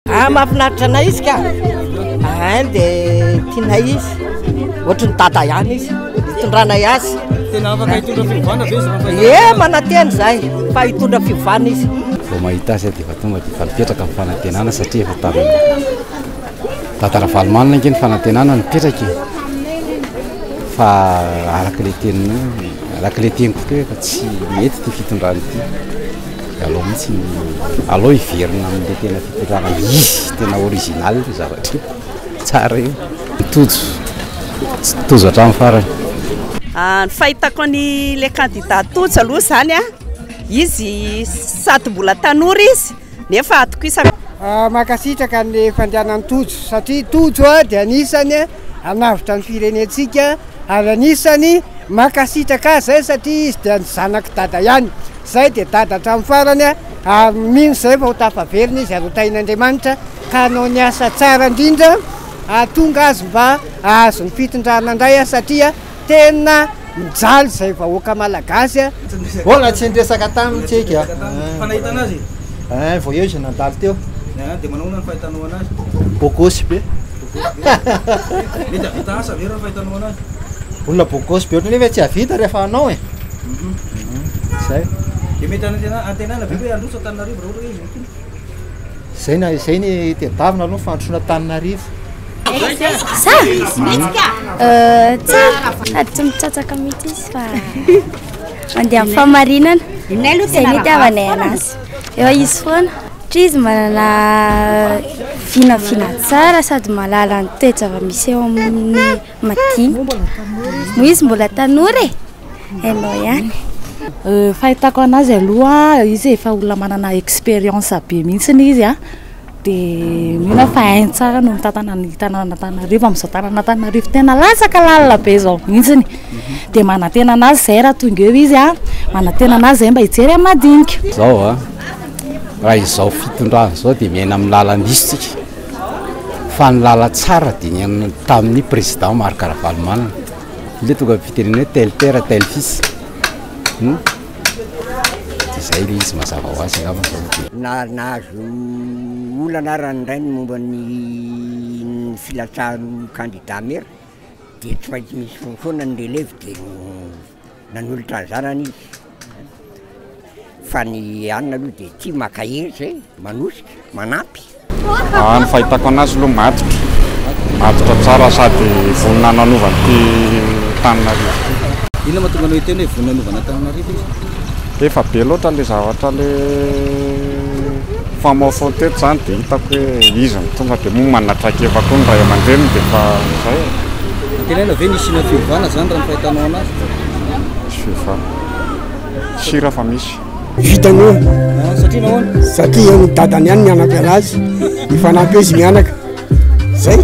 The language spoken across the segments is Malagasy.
Ah, mahafinaritra anay izy ka. Ah, dia tianay izy. Ohatry ny dada ihany izy. Itondranay azy. Tena afaka hitondra fiovana ve izy? Ye, manantena izay fa hitondra fiovana izy. Vao mahita azy dia efa tonga dia efa mipetraka ny fanantenana satria efa tamin'ny Tata Ravalomanana ange ny fanantenana nipetraka e. Fa araka ilay teniny, araka ilay teniko teo efa tsy mety ity fitondrana ity. Aleo mihitsy ny aleo hiverina amin'ilay tena fitondrana izy tena original io zavatra io. Tsara io. Tojo. Tojo hatramin'ny farany. Ah, ny fahitako an'ilay kandida Tojo aloha izany an, izy sady mbola tanora izy nefa atokisako. Ah, mankasitraka ny fandehanan'i Tojo satria Tojo ah, dia anisany ah, hanavotra ny firenentsika ary anisany mankasitraka azy izay satria izy dia ny zanak'i Dada ihany. Izay dia dada hatramin'ny farany ary mino izay vao tafaverina izy ary ho tahin'Andriamanitra ka hanao ny asa tsara indrindra hahatonga azy mba hahazo ny fitondrana indray satria tena mijaly izay vahoaka malagasy. Mbola tsy niresaka taminy tsika eh, vao eo izy nandalo teo. Dia manahoana ny fahitanao anazy? Bogosy be. Mety hahavita asa ve raha ny fahitanao anazy? Olona beau gosse be ohatrany nefa tsy hahavita rehefa hanao e. Zay. Dia mety anantena- antenaina ve hoe handroso Antananarivo raha ohatra hoe izy mitory? Zay na izay ny tedavina aloha ny fandrosoana Antananarivo. Za? Tsara, sady tsy mitsatsaka mihitsy izy fa mandeha amin'ny fahamarinana. Izay ny itiavanay anazy. Eo izy foana. Satria izy manana vinavina tsara sady mahalala ny toe-java-misy eo amin'ny madinika. Moa izy mbola tanora e! Hainao ihany. Euh, fahitako anazy aloha izy efa olona manana expérience be mihitsiny izy a dia mino fa hainy tsara no mitantana ny tanan'antananarivo amin'izao tanan'antananarivo tena latsaka lalina be izao mihitsiny mhm. dia manantena anazy izay raha tonga eo izy a manantena anazy izay mba hijery amin'ny madinika izao a raha izao fitondrana izao dia miaina amin'ny lalan-diso tsika fa ny lalantsara dia ny tamin'ny président Marc Ravalomanana le tonga fitenena hoe tel père tel fils hum izay le izy mazava ho azy angamba zao no tena na nahazo olana ara ny rainy momba ny filatsahan'ny kandida maire dia tsy maintsy misy foana ny relève dia nanolotra ny zanany izy, fa ny anona aloha dia tia maka hery izay, manosika, manampy. Raha ny fahitako anazy aloha matotra, matotra tsara sady vonona hanova ity Antananarivo ity. Inona mahatonga anao hiteny hoe vonona hanova an'Antananarivo izy? Efa be loatra ilay zavatra ilay. Mifamaofao teto izany dia hitako hoe iza no tonga dia moa manana traikefa koa ny ray aman-dreniny dia efa izay e. Antenaina ve ny hisiana fiovana izany raha ny fahitanao anazy? Tsy fiovana. Tsy raha fa misy. Vita ny omby. Ah, satria nahoana? Satria ny dadany ihany mianaka anazy, mifanampy izy mianaka. Zay,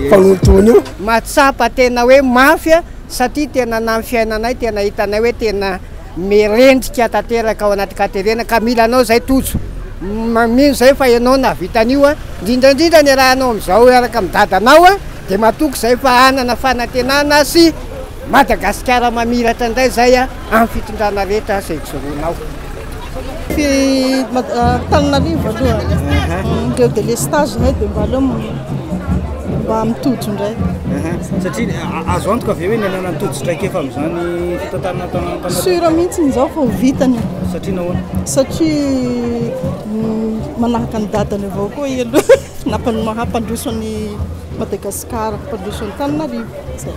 mpanontony io. Mahatsapa tena hoe mafy satria tena namin'ny fiainanay tena hitanay hoe tena Mirendrika tanteraka ao anaty katerena ka mila anao izay Tojo. Mino izay fa ianao nahavita an'io an. Indrindra indrindra niarahanao amin'izao hiaraka amin'ny dadanao an. Dia matoky izay fa hanana fanantenana sy Madagasikara mamiratra indray izay an amin'ny fitondrana rehetra izay ijoroanao. Antananarivo aloha ireo delestage zay dia mba aleo mba mitojo indray satria azo antoka ve hoe ny anana tojo-traikefa amin'izany fitantanana tanantanana sura mihitsy izao fa ho vitany satria nahoana satria mm, manahaka ny dadany avao koa i aloha nampanomaha mpandroso an'i madagasikara mpandroso antananarivo zay